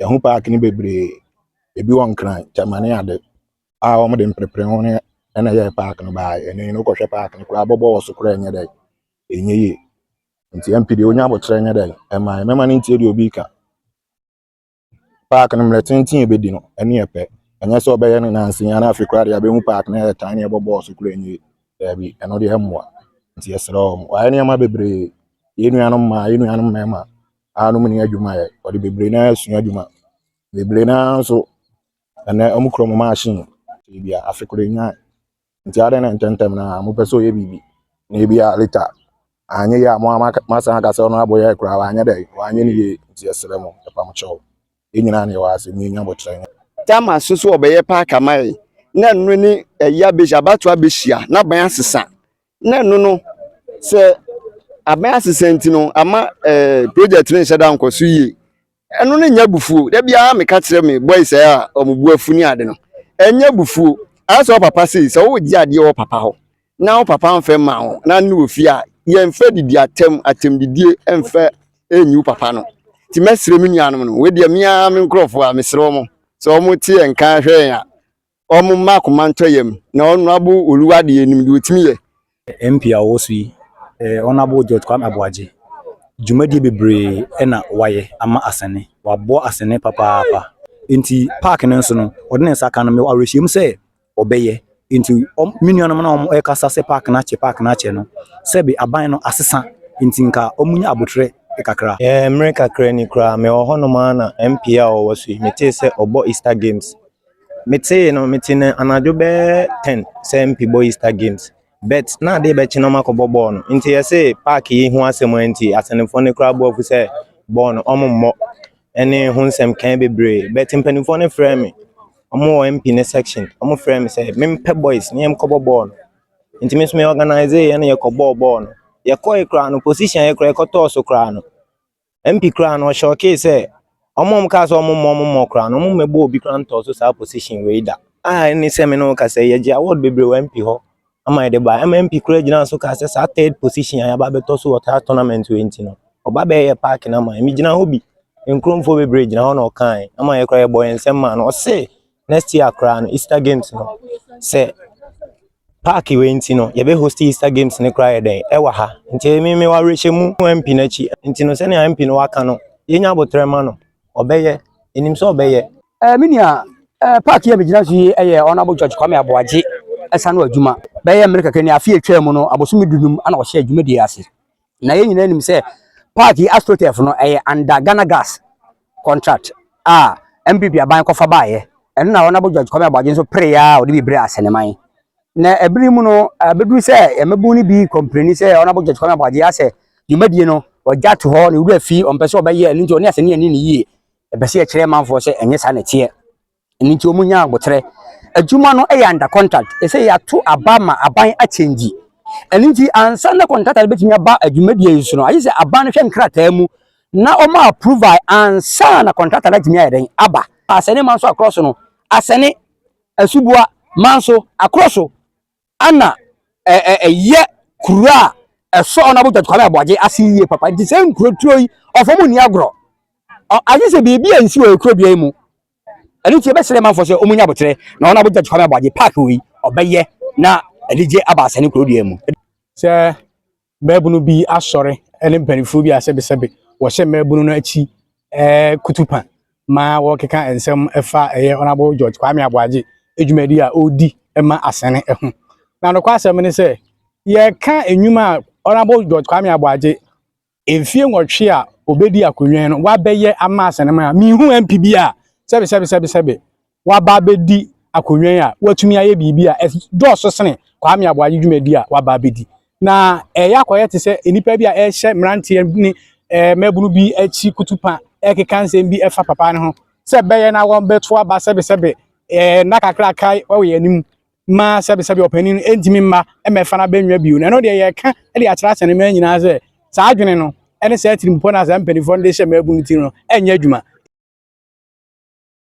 Yɛn ho paake no bebree. Ebi wɔ Nkran, Gyama ne ade a wɔde mprepre ho ne ɛna ɛyɛɛ paake no baa ɛno yi no wokɔhwɛ paake no koraa bɔbɔ wɔ so koraa ɛnyɛ dɛ ɛnyɛ yie. Nti MP deɛ wonya aboterɛ nyɛ dɛ ɛma mɛma no ntie deɛ obi ka. Park no mmerɛ tenten a ɛbɛdi no, ɛno yɛ pɛ. Ɛnyɛ sɛ ɔbɛyɛ no nnansa yi ara na afei koraa deɛ abɛhu park no yɛ tan ne ɛbɔ bɔɔl so koraa nie. Daabi, ɛno deɛ ɛmmoa. Nti yɛsrɛ wɔn. Wɔayɛ nneɛma bebree. Yɛn nuanom mmaa, yɛn nuanom mmarima a wɔn nni adwuma yɛ, wɔde bebree no ara asua adwuma. Bebree no ara nso, ɛnnɛ wɔkura wɔn machine. Ebia afe koro nnya Nti adɛn na ntɛmntɛm no ara mopɛ sɛ ɔyɛ biribi na ebia later anyɛ yie a mo ara moasan aka sɛ ɔno abɔ yɛ koraa wanyɛ dɛn wanyɛ no yie nti yɛsrɛ mo ɛpam kyɛw yɛn nyinaa ne yɛwɔ ha sɛ monya bokyerɛ Tama nso so ɔbɛyɛ park amae na ɛno ne ɛyi abɛhyia abato abɛhyia na aban asesa na ɛno no sɛ aban asesa nti no ama ɛɛ project no nhyɛ da nkɔ so yie Ɛno no nyɛ abufuo. Da biara meka kyerɛ me boys a wɔn bo afu ne ade no, ɛnyɛ abufuo. Ayɛ sɛ wo papa sei, sɛ wogye adeɛ wɔ wo papa hɔ na wo papa mfa mma wo na ne wɔ fie a, yɛmfa didi atɛm, atɛmdidie mfa nyi wo papa no. Nti mɛsrɛ me nuanom no, wei deɛ me ara me nkurɔfoɔ a, mesrɛ wɔn sɛ wɔte yɛn nka hwɛ yɛn a, Wɔmma akoma ntɔ yam na Honourable Oluwa de yɛnim deɛ ɔtumi yɛ. MP a ɔwɔ so yi, Honourable George Kwame Aboagye, dwumadie bebree na wayɛ ama Asene. Waboa Asene papaapa. Enti park no nso no, ɔde ne nsa ka no. Mewɔ awerɛhyɛmu sɛ ɔbɛyɛ. Enti me nuanom no a wɔrekasa sɛ park no akyɛ, park no akyɛ no, sɛbe aban no asesa nti nka wɔnya aboterɛ kakra. Ɛɛ, mmere kakra ni koraa, mewɔ hɔnom ara na MP a ɔwɔ so yi, metee sɛ ɔbɔ Easter Games Metsee no, metsee no anadwo bɛyɛ ten sɛ MP bɔ Easter games, but na ade rebɛkye na wɔakɔbɔ bɔɔl no. Ntsi yɛse park yi ho asɛm ara ntsi, asɛnfoɔ no koraa bɔɔ afu sɛ bɔɔl no wɔmmɔ ne ho nsɛm kãe beberee. But mpanimfoɔ no frɛɛ me, wɔn wɔ MP ne section, wɔfrɛɛ me sɛ mempɛ boys na yɛnkɔbɔ bɔɔl no. Ntsi me so me organisee yɛn na yɛkɔbɔɔ bɔɔl no. Yɛkɔe koraa no, position a yɛkora yɛkɔtɔɔ so koraa no, MP koraa no ɔhyɔɔkee sɛ wɔn a wɔkaa sɛ wɔmmɔ wɔmmɔ koraa no wɔmmɛbɔ obi koraa ntɔɔ so saa position wei da a ɛne sɛ me ne wo kasa yɛgye award bebree wɔ MP hɔ ama yɛde ba ɛma MP koraa gyina so kaa sɛ saa third position a yɛaba bɛtɔ so wɔ saa tournament wei nti no ɔba bɛyɛ park no ama yɛ megyina hɔ bi nkurɔfoɔ bebree gyina hɔ na ɔkae ama yɛ koraa yɛbɔ yɛn nsɛm maa no ɔse next year koraa no Easter games no sɛ park wei nti no yɛbɛ host Easter games no koraa yɛ dɛn ɛwɔ ha nti ɛmi mi wa rehyɛ mu MP n'akyi nti no sɛnea MP no waka no yɛnya abotrɛ ma no ɔbɛyɛ ɛnim sɛ ɔbɛyɛ. Ɛɛ eh, mi nua ɛɛ eh, park yɛ mi gyina so yi ɛyɛ Honourable George Kwame Aboagye ɛsa no adwuma bɛyɛ mmerɛ kɛkɛ ni afi atwa mu no abosomi dunum ana ɔhyɛ adwuma di ase. na yɛn nyinaa nim sɛ park yi astroturf no ɛyɛ under ghana gas contract a mpp aban kɔfa baeɛ ɛno na ɔnabo george kwame aboagye nso pere ya a ɔde bi bere asɛneman na ɛbere mu no ɛbɛduru sɛ yɛmɛbu no bi kɔmpreni sɛ ɔnabo george kwame aboagye asɛ dwumadie no ɔgya to hɔ ne wura fi ɔmpɛ sɛ ɔbɛyɛ ɛno nti ɔne asɛne ani ne yie ɛpɛ sɛ yɛkyerɛ manfoɔ sɛ ɛnyɛ saa na ɛteɛ ɛno nti wɔn nya abotrɛ adwuma no yɛ under contract ɛsɛ yɛato aba ma aban akyɛngyi ɛno nti ansa na contractor bɛtumi aba adwumadie yi so no ayɛ sɛ aban no hwɛ nkrataa mu na wɔn approval ansa na contractor no atumi ayɛ dɛn aba asɛne manso akorɔ so no asɛne asuboa manso akorɔ so Ana ɛyɛ kuro a ɛsɔ Honourable Judge Kwame Aboagye ase yie papa nti sɛ nkuroturo yi ɔfɔ mu nni agorɔ agye sɛ biribi a nsi wɔ kuro bia yi mu ɛno nti yɛbɛsrɛ manfoɔ sɛ ɔmu nya aboterɛ na Honourable Judge Kwame Aboagye park wei ɔbɛyɛ na anigye aba asane kuro dua mu sɛ mmaabunu bi asɔre ne mpanimfoɔ bi a sɛbesɛbe wɔhyɛ mmaabunu no akyi eh, kutupa ma wɔkeka nsɛm ɛfa ɛyɛ ɔnabo george kwame aboagye adwumadi a ɔredi ma asɛne ho na nokɔ asɛm ne sɛ yɛka nnwuma a ɔnabo george kwame aboagye mfie nwɔtwe a ɔbɛdi akonnwa no wabɛyɛ ama asɛne ma mehu mp bi a sɛbesɛbesɛbesɛbe waba abɛdi akonnwa yi a watumi ayɛ biribi a ɛdɔɔso sene Kwame Aboagye dwumadi a waba abɛdi. Na ɛyɛ akɔyɛ te sɛ nnipa bi a ɛrehyɛ mmeranteɛ ne mmabunu bi akyi kutupa ɛrekeka nsɛm bi ɛfa papa no ho sɛ bɛyɛ na wɔbɛto aba sɛbesɛbe nna kakra aka wɔ yɛn anim ma sɛbesɛbe ɔpanin no ɛntumi mma mmɛfa no abɛnwa bio. Na ɛno deɛ yɛka de akyerɛ asɛnema nyinaa sɛ saa adwene no ɛne saa atirimpɔ no a saa mpanimfoɔ no de hyɛ mmabunu ti no ɛnyɛ adwuma.